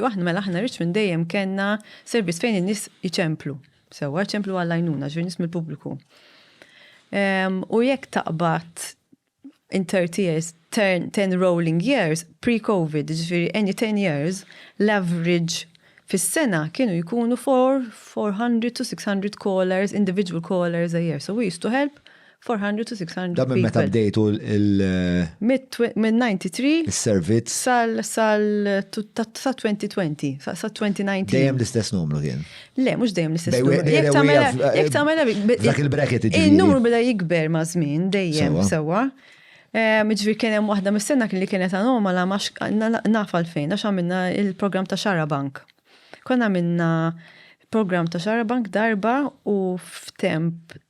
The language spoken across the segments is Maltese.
U aħna, mela aħna Richmond dejjem kellna servizz fejn in-nies iċemplu. Sewwa, iċemplu għall-għajnuna, ġifieri nies mill-pubbliku. Ehm, u jekk taqbad in 30 years, 10 rolling years, pre-COVID, ġifiri any 10 years, l-average fis-sena kienu jkunu 400 to 600 callers, individual callers a year. So we used to help 400 to 600 Da minn meta bdejtu il- Minn 93 is-servizz. Sal sal sa 2020, sa 2019. Dejjem l-istess numru kien. Le, mhux dejjem l-istess numru. Jekk tagħmel jekk tagħmel Dak il-bracket iġifieri. In-numru beda jikber ma' żmien dejjem sewwa. Ġifieri kien hemm waħda mis-sena li kienet anomala ma naf għalfejn għax għamilna il-programm ta' Xara Bank. Konna għamilna programm ta' Xara Bank darba u f'temp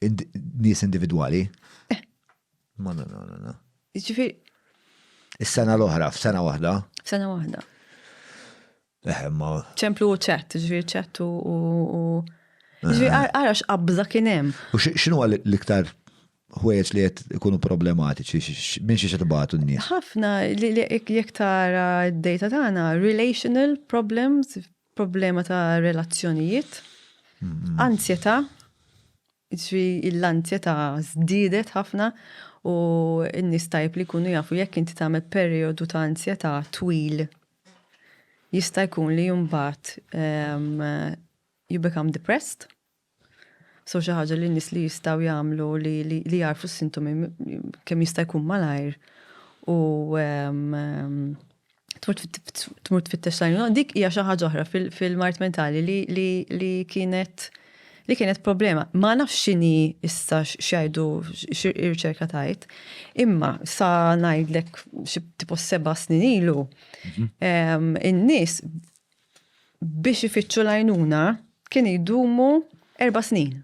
nies individwali. Eh. Ma na na na. Ġifir. Is-sena l-oħra, f'sena waħda. F'sena waħda. Eh, ma. ċemplu u ċett, ġifir ċett u. Ġifir, eh. għara x'qabża kien hemm. U x'inhu l-iktar ħwejjeġ li qed ikunu problematiċi, minn xi tibgħatu n-nies. Ħafna li jekk tara d-data tagħna, relational problems, Problema ta' relazzjonijiet, anzjetà, jiġifieri l-anzjetà żdiedet ħafna u n-nies tajjeb li jkunu jafu jekk inti tagħmel perijodu ta' anzjetà twil jista' jkun li mbagħad you become depressed. So xi ħaġa li n-nies li jistgħu jagħmlu li li jagħrfu s-sintomi kemm jista' jkun malajr u tmur tfittex lajn. Dik hija xi ħaġa oħra fil-mart mentali li kienet li kienet problema. Ma nafx x'inhi issa x'jgħidu ir-riċerka tajt, imma sa ngħidlek xi tipo seba' snin ilu mhm. in-nies biex ifittxu l-għajnuna kien jdumu erba' snin.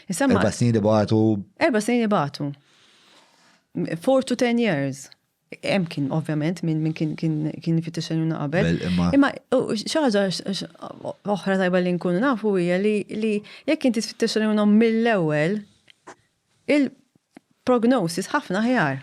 Erba' snin ibatu. Erba' snin ibatu. Four to ten years. Hemm kien ovvjament minn min kien kien ifittex għajnuna qabel. Imma xi ħaġa oħra tajba li nkunu nafu hija li jekk inti tfittex għajnuna mill-ewwel il-prognosis ħafna ħjar.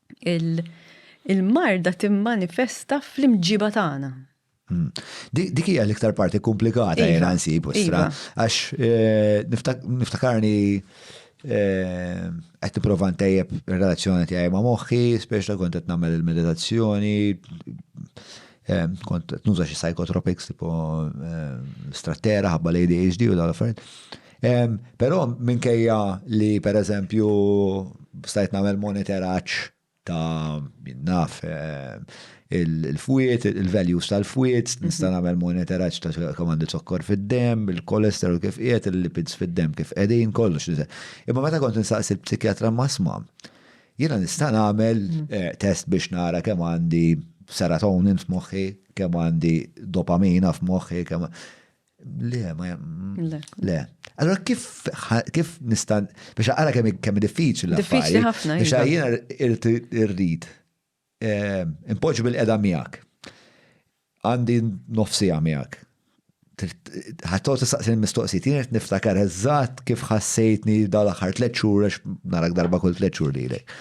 il-marda timmanifesta fl-imġiba tagħna. Hmm. Dik hija l-iktar parti komplikata jena iva. nsib u stra, iva. għax eh, niftakarni eh, qed nipprova ntejjeb ir-relazzjoni tiegħi ma' moħħi, speċa kont qed nagħmel il-meditazzjoni, eh, kont qed nuża xi psychotropics tipo strattera ħabba l-ADHD u dal-affarijiet. Però minkejja li per eżempju stajt nagħmel monitoraġġ ta' naf il-fwiet, il-values tal-fwiet, mhm. nista' nagħmel monitoraġġ ta' kemm għandi zokkor fid-dem, il-kolesterol kif qiegħed, il-lipids fid-dem kif qegħdin kollox. Imma meta kont nistaqs il-psikjatra masma, jiena nista' nagħmel mhm. eh, test biex nara kemm għandi serotonin f'moħħi, kemm għandi dopamina f'moħħi, kemm Le, ma Le. Le. Allora kif kif nista' biex ara kemm kemm diffiċli Diffiċli ħafna. Biex iva. jiena irrid eh, impoġġi bil-qeda miegħek. Għandi nofsija miegħek. Ħattaw tistaqsi mistoqsijiet, jien qed niftakar eżatt kif ħassejtni dal-aħħar tliet xhur għax narak darba kull tliet xhur lilek.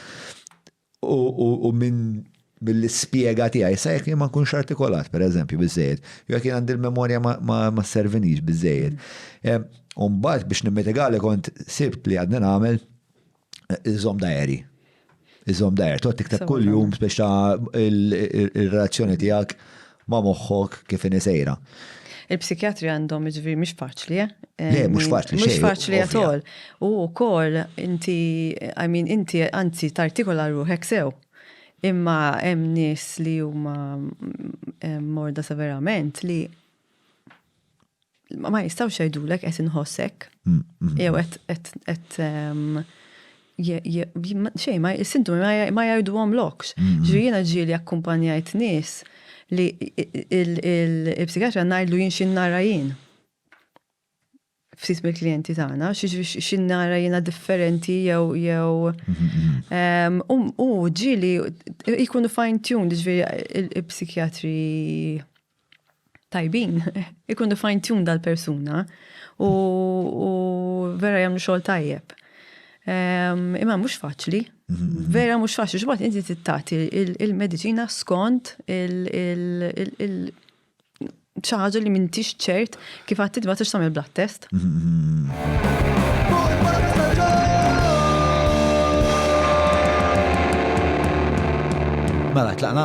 u minn mill-ispjega tiegħi, sa jekk jien ma nkunx artikolat, per eżempju, biżejjed, jew jekk jien għandi l-memorja ma servinix biżejjed. Umbagħad biex nimmitigali kont sibt li għadni nagħmel iżom dajeri. Iżom dajeri, toqgħod tikteb kuljum biex ta' ir-relazzjoni tiegħek Ma' moħħok kif inhi sejra. Il-psikjatri għandhom jiġifieri mhix faċli, eh? Le, mhux faċli xejn. Mhux faċli at all. U wkoll inti, I mean, inti anzi tartikola ruħek sew. Imma hemm nies li huma morda severament li. Ma jistgħux jgħidulek qed inħoss hekk. Jew qed qed xejn ma is-sintomi ma jgħiduhomlokx. Ġifieri jiena ġieli akkumpanjajt nies li il-psikjatra ngħidlu jien xi nara jien. Ftit mill-klijenti tagħna, xi nara jiena differenti jew jew u ġieli jkunu fine-tuned, ġifieri il-psikjatri tajbin, ikunu fine tune dal-persuna u, u vera jagħmlu xogħol tajjeb. Um, imma mhux faċli, mhm. vera mhux faċli, x'bad inti tittati il-mediċina skont il-, il, il, il ċaħġa li mintix ċert kif għattid ma t-ixtam il-blood test. Mela, tlaqna?